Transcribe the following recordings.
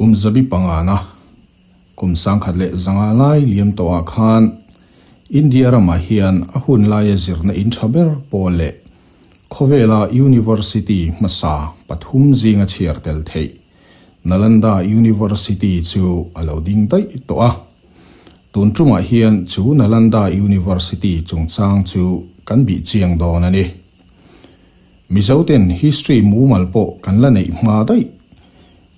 Kum zabi pangana kum sangkhat leh zanga lai liam tawhah khan India ramah hian a hun laia zirna in tha ber pawl leh khawvela University hmasa pathum zinga chhiar tel theih Nalanda University chu a lo ding daih tawh a. Tun ṭumah hian chu Nalanda University chungchang chu kan bih chiang dawn a ni. Mizo ten history mumal pawh kan la neih hma daih.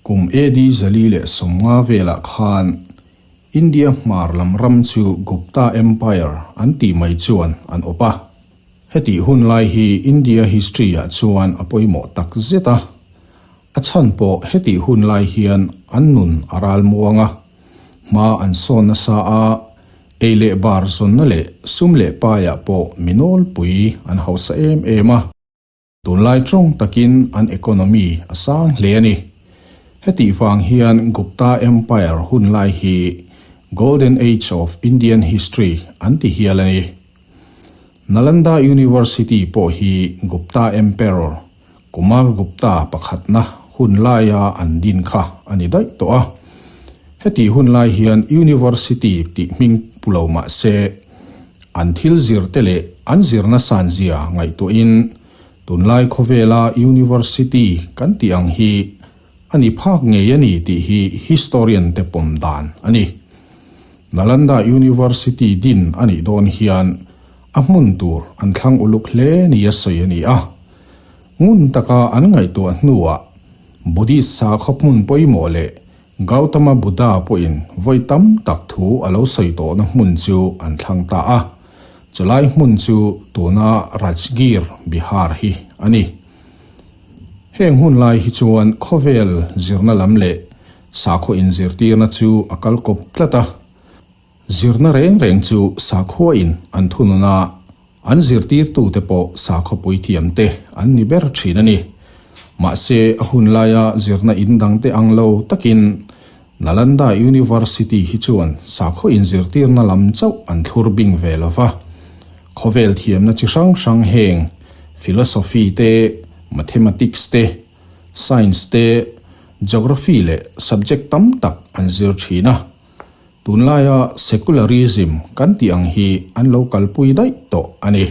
Kum AD zali leh sawmnga velah khan India hmar lam ram chu Gupta Empire an tih mai chuan an awp a. Hetih hun lai hi India history-ah chuan a pawimawh tak zet a. A chhan pawh hetih hun lai hian an nun a ral muang a, hma an sawn nasa a, ei leh bar zawnna leh sum leh paiah pawh mi nawlpui an hausa em em a, tunlai tawng takin an economy a sang hle a ni. Hetih vang hian Gupta Empire hun lai hi Golden Age of Indian History an ti hial a ni. Nalanda University pawh hi Gupta Emperor Kumar Gupta pakhatna hun laia an din kha a ni daih tawh a. Heti hun lai hian University tih hming pu lo mahse, an thil zirte leh an zirna san zia ngaihtuahin tunlai khawvela University kan tih ang hi a ni phak ngei a ni tih hi historian te pawm dan a ni. Nalanda University din a nih dawn hian a hmun tur an thlang uluk hle ni a sawi a ni a, ngun taka an ngaihtuah hnuah Buddhist sa khawp hmun pawimawh leh Gautama Buddha pawhin vawi tam tak thu a lo sawi tawhna hmun chu an thlang ta a, chulai hmun chu tuna Rajgir, Bihar hi a ni. Heng hun lai hi chuan khawvel zirna lam leh sakhaw inzirtirna chu a kal kawp tlat a. Zirna reng reng chu sakhuain an thunun a, an zirtirtute pawh sakhaw puithiamte an ni ber thin a ni. Mahse, a hun laia zirna in dangte ang lo takin Nalanda University hi chuan sakhaw inzirtirna lam chauh an thlur bing ve lo va. Khawvel thiamna chi hrang hrang heng, Philosophy te, Mathematics te, Science te, Geography leh subject tam tak an zir thin a. Tunlaia secularism kan tih ang hi an lo kalpui daih tawh a ni.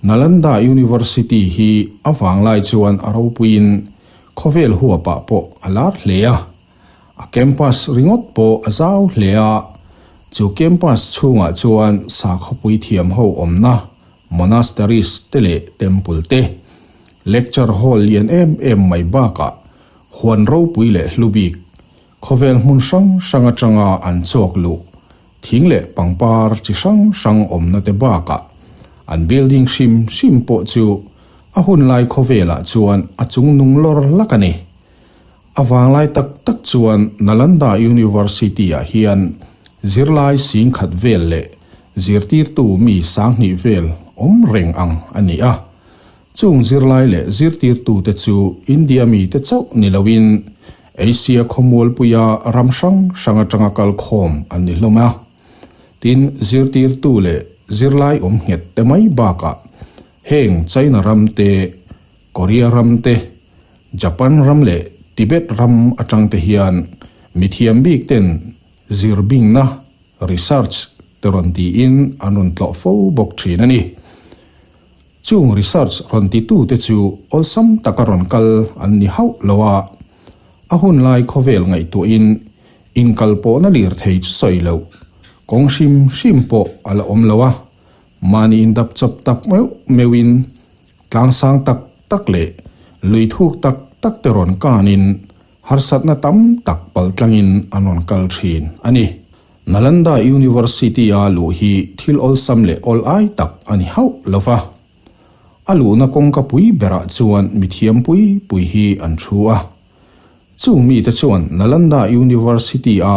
Nalanda University hi a vanglai chuan a ropuiin khawvel huapah pawh a lar hle a, a campus ringawt pawh a zau hle a, chu campus chhungah chuan sakhaw puithiam ho awmna monasteries te leh temple te, lecture hall lian em em mai bakah huan ropui leh hlubik Khawvel hmun hrang hrang atanga an chawk luh thing leh pangpar chi hrang hrang awmnate bakah an building hrim hrim pawh chu a hun lai khawvelah chuan a chung nung lawr lak a ni. A vanglai tak tak chuan Nalanda University-ah hian zirlai sing khat vel leh zirtirtu mi sanghnih vel awm reng ang a ni a, chung zirlai leh zirtirtute chu India mite chauh ni loin Asia khawmualpuia ram hrang hrang atanga kal khawm an ni hlawm a, tin zirtirtu leh zirlai awm nghet te mai bakah heng China ram te, Korea ram te, Japan ram leh Tibet ram atangte hian mithiam bikten zirbingna, research, te rawn tiin an rawn tlawh fo bawk thin a ni. Chung research rawn titute chu awlsam taka rawn kal an ni hauh lo a, a hun lai khawvel ngaihtuahin inkalpawhna lirthei chu sawi loh kawng hrim hrim pawh a la awm lo a, mahniin dapchawp tak meuh meuhin tlangsang tak tak leh luithuk tak takte rawn kanin, Harsatna tam tak pal tlangin an rawn kal thin a ni. Nalanda University-a luh hi thil awlsam leh awl ai tak a ni hauh lo va. A luhna kawngka pui berah chuan mithiam pui pui hi an thu a. Chung mite chuan Nalanda University-a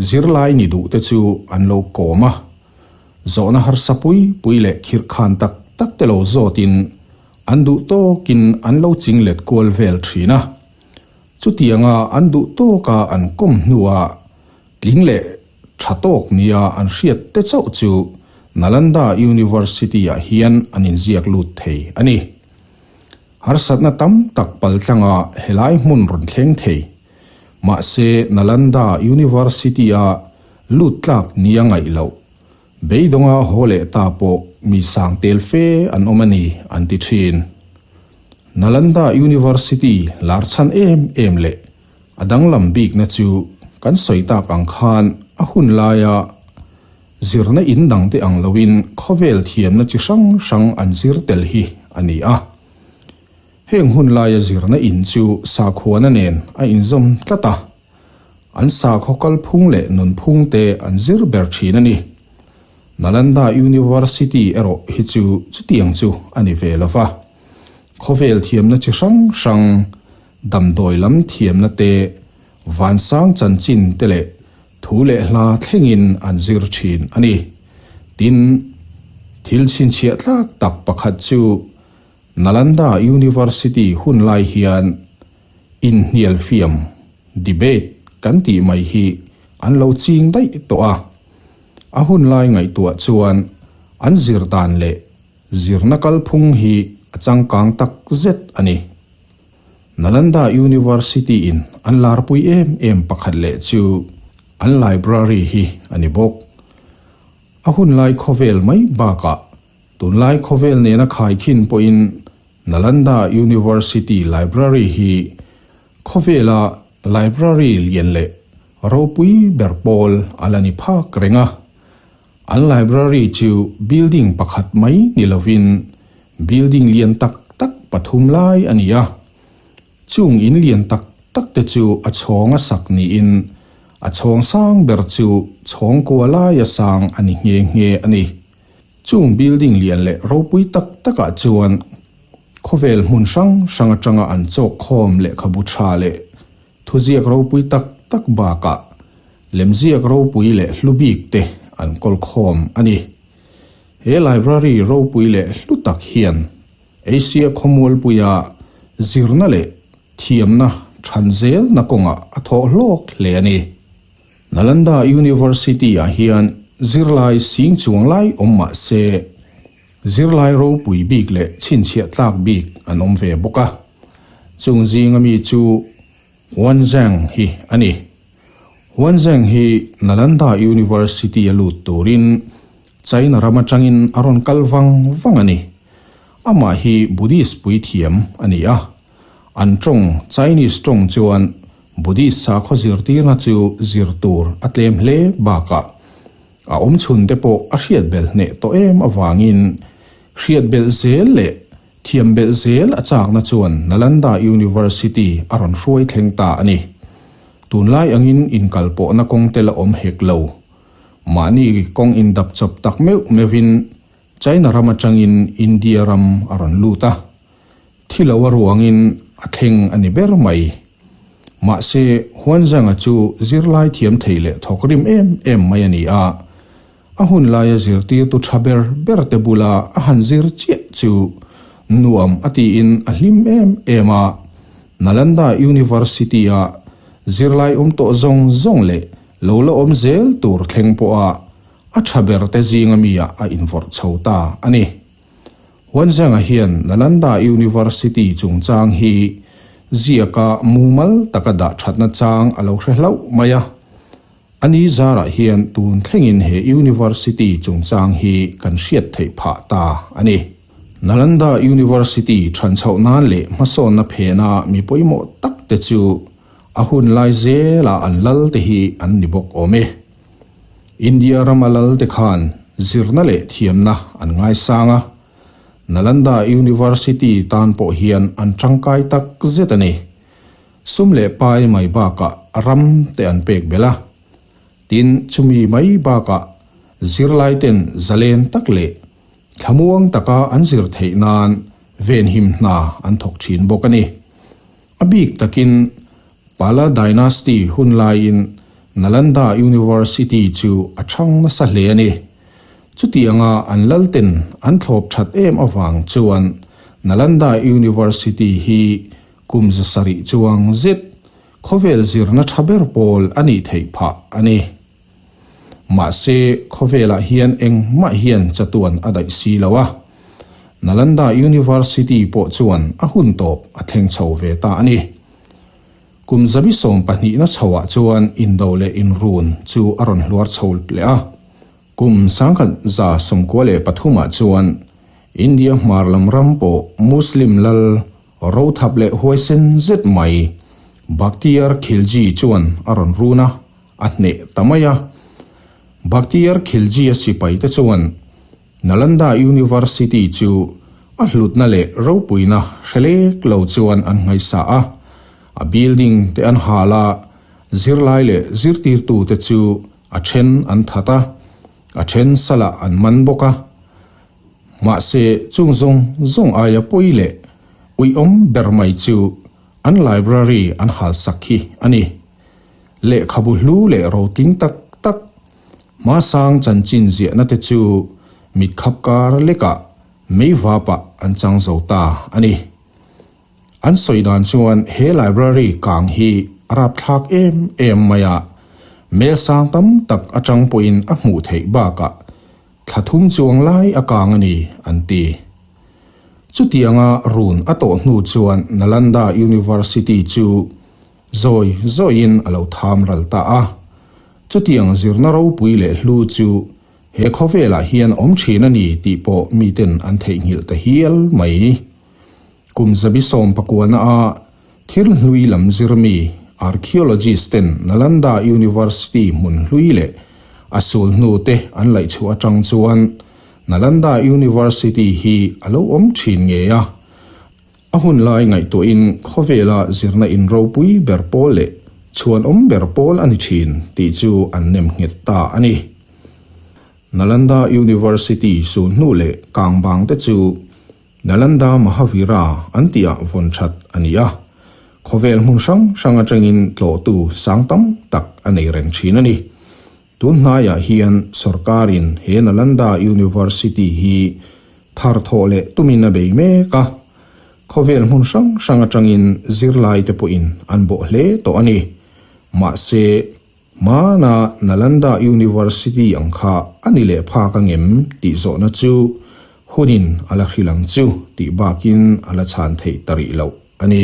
Zirlai ni duhte chu an lo kawm a, zawhna harsa pui pui leh khirh khan tak tak te lo zawtin an duh tawkin an lo ching let kual vel thin a. Chutianga an duh tawka an kawm hnuah tling leh tha tawk nia an hriat te chauh chu Nalanda University-ah hian an inziak lut thei a ni. Harsatna tam tak pal tlangah helai hmun rawn thleng thei. Mahse, Nalanda University-a lut tlak nia ngaih loh, beidawnga haw leh ta pawh mi sang tel fe an awm a ni, an ti thin. Nalanda University larchhan em em leh a danglam bikna chu kan sawi tak ang khan a hun laia zirna in dangte ang loin khawvel thiamna chi hrang hrang an zir tel hi a ni a. Heng hun laia zirna in chu sakhuana nen a inzawm tlat a, an sakhaw kalphung leh nunphung te an zir ber thin a ni. Nalanda University erawh hi chu chutiang chu a ni ve lo va, khawvel thiamna chi hrang hrang, damdawi lam thiamna te, vansang chanchin te leh thu leh hla thlengin an zir thin a ni. Tin, thil chhinchhiah tlak tak pakhat chu Nalanda University hun lai hian inhnialfiam, debate, kan tih mai hi an lo ching daih tawh a. A hun lai ngaihtuah chuan an zir dan leh zirna kalphung hi a changkang tak zet a ni. Nalanda University in an larpui em em pakhat leh chu an library hi a ni bawk. A hun lai khawvel mai bakah Tunlai khawvel nena khai khin pawhin Nalanda University Library hi khawvela library lian leh ropui ber pawl a la ni phak reng a. An library chu building pakhat mai ni lovin building lian tak tak pathum lai a ni a. Chung in lian tak tak te chu a chhawng a sak niin a chhawng sang ber chu chhawng kua laia sang a ni nghe nghe a ni. Chung building lian leh ropui tak takah chuan khawvel hmun hrang hrang atanga an chawk khawm lehkhabu tha leh thuziak ropui tak tak bakah lemziak ropui leh hlu bik te an kawl khawm a ni. He library ropui leh hlu tak hian Asia khawmualpuia zirna leh thiamna than zelna kawngah a thawh hlawk hle a ni. Nalanda University-ah hian zirlai sing chuang lai awm mah se, zirlai ropui bik leh chhinchhiah tlak bik an awm ve bawk a. Chung zinga mi chu Huan Zheng hi a ni. Huan Zheng hi Nalanda University-a lut turin China ram atangin a rawn kal vang vang a ni. Amah hi Buddhist puithiam a ni a. An tawng, Chinese tawng, chuan Buddhist sakhaw zirtirna chu zir tur a tlem hle bakah a awmchhun te pawh a hriat belh hneh tawh em avangin hriat belh zel leh thiam belh zel a chakna chuan Nalanda University a rawn hruai thleng ta a ni. Tunlai angin inkalpawhna kawng te la awm hek lo. Mahni kawng indap chawp tak meuh meuhin China ram atangin India ram a rawn lut a. Thi lo a ruangin a thleng a ni ber mai. Mahse, Huanzhanga chu zirlai thiam thei leh thawk rim em em mai a ni a. A hun laia zirtirtu tha ber ber te bula a han zir chiah chu nuam a tiin a hlim em em a. Nalanda University-a zirlai awm tawh zawng zawng leh lo la awm zel tur thleng pawha a tha berte zinga mia a invorh chho ta a ni. Huanzengah hian Nalanda University chungchang hi ziaka mumal taka dah thatna chang a lo hre hlauh mai a. A ni zarah hian tun thlengin he University chungchang hi kan hriat theih phah ta a ni. Nalanda University than chhoh nan leh hmasawnna phena mi pawimawh takte chu a hun lai zela an lalte hi an ni bawk awm e. India rama lalte khan zirna leh thiamna an ngaisang a, Nalanda University tan pawh hian an tangkai tak zet a ni. Sum leh pai mai bakah ram te an pek belh a, tin chumi mai bakah zirlaiten zalen tak leh thlamuang taka an zir theih nan venhim hna an thawk thin bawk a ni. A bik takin Pala Dynasty hun laiin Nalanda University chu a chhang nasa hle a ni. Chuti anga an lalten an thlawp that em avang chuan Nalanda University hi kum za sarih chuang zet, khawvel zirna tha ber pawl a nih theih phah a ni. Mahse, khawvelah hian engmah hian chatuan a daih si lo a, Nalanda University pawh chuan a hun tawp a thleng chho ve ta a ni. Kum zabi sawm pahnihna chhoah chuan indo leh inrun chu a rawn hluar chho leh a. Kum sangkhat za sawmkua leh pathumah chuan India hmar lam ram pawh Muslim lal, rothap leh huaisen zet mai, Bakhtiar Khilji chuan a rawn run a, A hneh ta mai a. Bakhtiyar Khilji a sipai te chuan Nalanda University chu a hlutna leh ropuina hre lek lo chuan an hmaisa a. A building te an hal a, zirlai leh zirtirtu te chu a then an that a, a then salah an man bawk a. Mahse chung zawng zawng aia pawi leh uiawm ber mai chu an library an halsak khi a ni. Lehkhabu hlu leh roting tak tak hmasang chanchin ziahna te chu mit khap kar lekah mei vapah an chang zo ta a ni. An sawi dan chuan he library kang hi a rapthlak em em mai a, mel sang tam tak atang pawhin a hmuh theih bakah thla thum chuang lai a kang a ni, an ti. Chutianga run a tawh hnu chuan Nalanda University chu Zawi zawiin a lo tham ral ta a. Chutiang zirna ropui leh hlu chu he khawvelah hian awm thin a ni tih pawh miten an theihnghilh ta hial mai. Kum zabi sawm pakuana a thil hlui lam zirmi archaeologist-ten Nalanda University hmun hlui leh a sul hnute an laihchhuah atang chuan Nalanda University hi a lo awm thin ngei a. A hun lai ngaihtuahin khawvela zirna in ropui ber pawl leh chhuanawm ber pawl a ni thin tih chu an nem nghet ta a ni. Nalanda University sun hnu leh kang bangte chu Nalanda Mahavira an tiah vawn that a ni a, khawvel hmun hrang hrang atangin tlawhtu sang tam tak a nei reng thin a ni. Tun hnaiah hian sorkarin he Nalanda University hi thar thawh leh tumin a bei mek a, khawvel hmun hrang hrang atangin zirlaite pawhin an bawh hle tawh a ni. Mahse, hmana Nalanda University ang kha a ni leh phak a ngem tih zawhna chu hunin a la hrilh ang chu tih bakin a la chhan theih ta rih loh a ni.